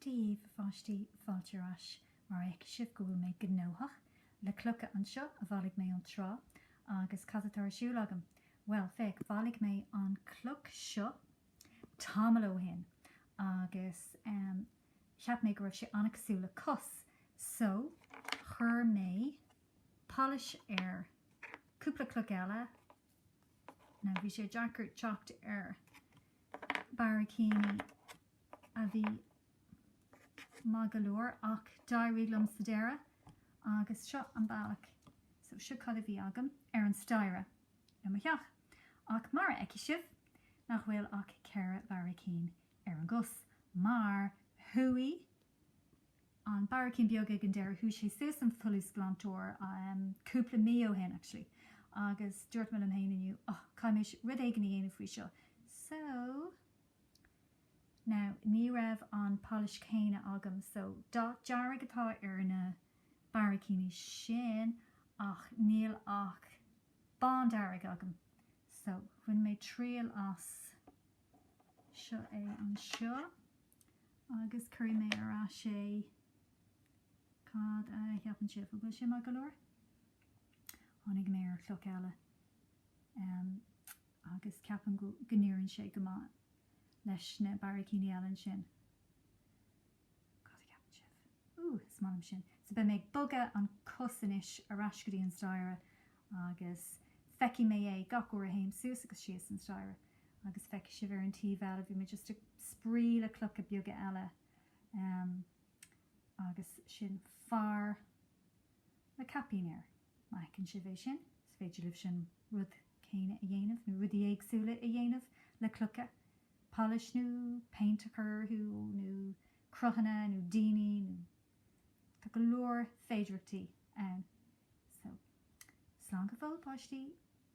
Daoibh a pháistí fáilte ar ais mar fheicfidh sibh go bhfuil mé gnóthach. Le clocha anseo a bhailigh mé ón trá agus cad atá ar siúl agam? Bhuel, féach, bhailigh mé an chloch seo tamall ó shin agus cheap mé go raibh sé an-chosúil le cos so chuir mé polish air. Cúpla cloch eile. Now bhí sé deacair teacht ar barraicíní a bhí maith go leor ach d'éirigh liom sa deireadh agus seo an bealach, so seo cad a bhí agam ar an staighre i mo theach. Ach mar a fheicfidh sibh nach bhfuil ach ceithre bharraicín ar an gcos mar chuaigh an barraicín beag ag an deireadh, chuaigh sé suas san fholúsghlantóir cúpla mí ó shin actually agus dúirt mé liom fhéin inniu oh caithfidh mé rud éigin a dhéanamh faoi seo so now ní raibh an polish céanna agam so dath dearg atá ar na barraicíní sin ach níl ach bándearg agam so bhain mé triail as seo anseo agus cuirfidh mé ar ais é. Cad a cheapann sibh? An bhfuil sé maith go leor? Tháinig mé ar chloch eile agus ceapaim go n-oibríonn sé go maith leis na barraicíní eile ansin. Cad a cheapann sibh? Ooh, is maith liom sin. So beidh mé ag bogadh an cos anois ar ais go dtí an staighre agus feicfidh mé é gach uair a théim suas agus síos an staighre. Agus feicfidh sibh ar an taobh eile, bhí mé just ag spraoi le clocha beaga eile em agus sin fear le caipín air. Má fheiceann sibh é sin, so is féidir libh sin rud céanna a dhéanamh nó rudaí éagsúla a dhéanamh le clocha. polish nó paint a chur orthu nó cruthanna nó daoine nó tá go leor féidireachtaí ann so slán go fóill a pháistí.